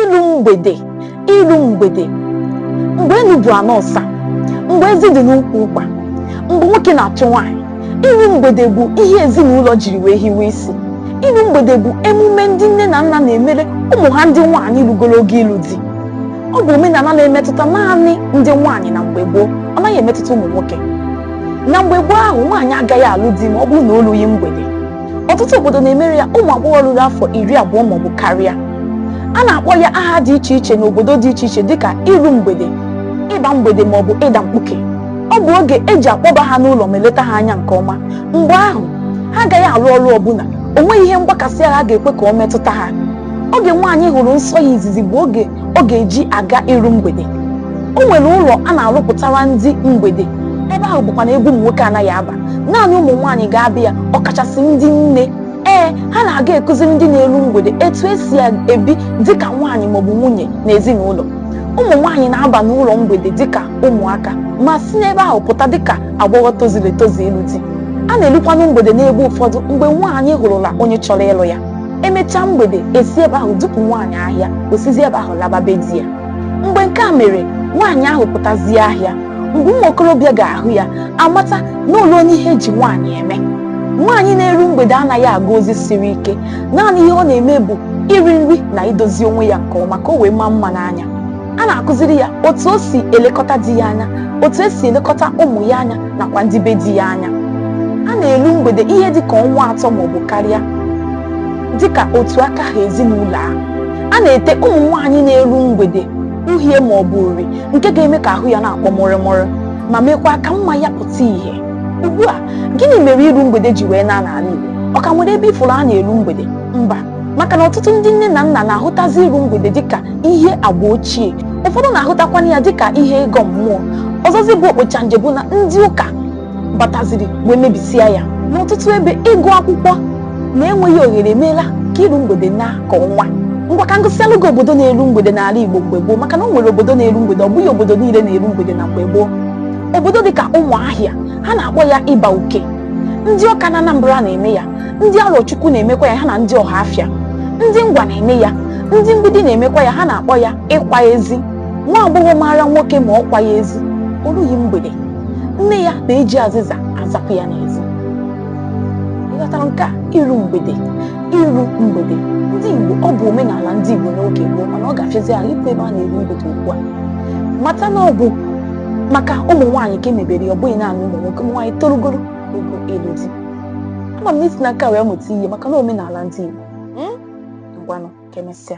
ilu mgbede ilu mgbede mgbe enu bụ ana ọsa mgbe ezi dị n'ukwu ụkwa mgbe nwoke na-achụ nwaanyị ilu mgbede bụ ihe ezinụlọ jiri wee hiwe isi ilu mgbede bụ emume ndị nne na nna na-emere ụmụ ha ndị nwaanyị lugoro oge ịlụ di ọ bụ omenala na-emetụta naanị ndị nwaanyị na mgbe gboo ọ naghị emetụta ụmụ nwoke na mgbe gboo ahụ nwaanyị agaghị alụ di ma ọ bụrụ na o lughị mgbede ọtụtụ obodo na-emere ya ụmụ agbọghọ ruru afọ iri abụọ maọbụ karịa a na-akpọ ya aha dị iche iche n'obodo dị iche iche dịka iru mgbede ịba mgbede maọbụ ịda mkpuke ọ bụ oge eji akpọba ha n'ụlọ ma eleta ha anya nke ọma mgbe ahụ ha agaghị arụ ọrụ ọbụla o nweghị ihe mgbakasị ahụ a ga-ekwe ka ọ metụta ha oge nwaanyị hụrụ nsọ ya izizi bụ oge ọ ga-eji aga iru mgbede o nwere ụlọ a na-arụpụtara ndị mgbede ebe ahụ bụkwanụ ebe ụmụ nwoke anaghị aba naanị ụmụ nwaanyị ga-abịa ya ọkachasị ndị nne ee ha na-aga ekụziri ndị na-eru mgbede etu esi ebi dịka nwaanyị maọbụ nwunye na ezinụlọ ụmụ nwaanyị na-aba n'ụlọ mgbede dịka ụmụaka ma si n'ebe ahụ pụta dịka agbọghọ tozuru etozu ịlụ di a na-elukwanụ mgbede n'ebe ụfọdụ mgbe nwaanyị hụrụla onye chọrọ ịlụ ya emechaa mgbede e si ebe ahụ dupụ nwaanyị ahịa o sizi ebe ahụ laba be di ya mgbe nke a mere nwaanyị ahụ pụtazie ahịa mgbe ụmụ okorobịa ga-ahụ ya amata na o luona ihe eji nwaanyị eme nwaanyị na-eru mgbede anaghị aga ozi siri ike naanị ihe ọ na-eme bụ iri nri na idozi onwe ya nke ọma ka o wee maa mma n'anya a na-akụziri ya otu o si elekọta di ya anya otu o si elekọta ụmụ ya anya nakwa ndị be di ya anya a na-elu mgbede ihe dịka ọnwa atọ maọbụ karịa dịka otu aka ha ezinụlọ a a na-ete ụmụ nwaanyị na-eru mgbede uhie maọbụ uri nke ga-eme ka ahụ ya na-akwọ mụrụmụrụ ma mekwa ka mma ya pụta ìhè ugbu a gịnị mere iru mgbede ji wee naa n'ala Igbo ọ ka nwere ebe ị fụrụ a na-eru mgbede mba maka na ọtụtụ ndị nne na nna na-ahụtazi iru mgbede dịka ihe agba ochie ụfọdụ na-ahụtakwana ya dịka ihe ịgọ mmụọ ọzọzi bụ okpocha nje bụ na ndị ụka bataziri wee mebisia ya n'ọtụtụ ebe ịgụ akwụkwọ na enweghị ohere emeela ka iru mgbede naa ka ọnwa ngwa ka m gụsịalụ gị obodo na-eru mgbede n'ala Igbo mgbe gboo maka na o nwere obodo na-eru mgbede ọ bụghị obodo niile na-eru mgbede na mgbe gboo obodo dịka Ụmụahịa ha na-akpọ ya ịba uke ndị Ọka na Anambra na-eme ya ndị Arọchukwu na-emekwa ya ha na ndị Ọhafịa ndị Ngwa na-eme ya ndị Mgbidi na-emekwa ya ha na-akpọ ya ịkwa ezi nwa agbọghọ maara nwoke ma ọ kwaghị ezi o rughị mgbede nne ya na-eji azịza azapụ ya n'ezi ị ghọtara nke a iru mgbede iru mgbede ndị Igbo ọ bụ omenala ndị Igbo n'oge gboo mana ọ ga-afịazi ahụ ikwu ebe a na-eru mgbede ugbu a mata na ọ bụ maka ụmụ nwaanyị ka e mebere ya ọ bụghị naanị ụmụ nwoke ụmụ nwaanyị torugoro Ogo ịlụ di. Ama m na i si na nke a wee mụta ihe maka na omenala ndị Igbo. Hmm? Ngwanụ, ka emesịa.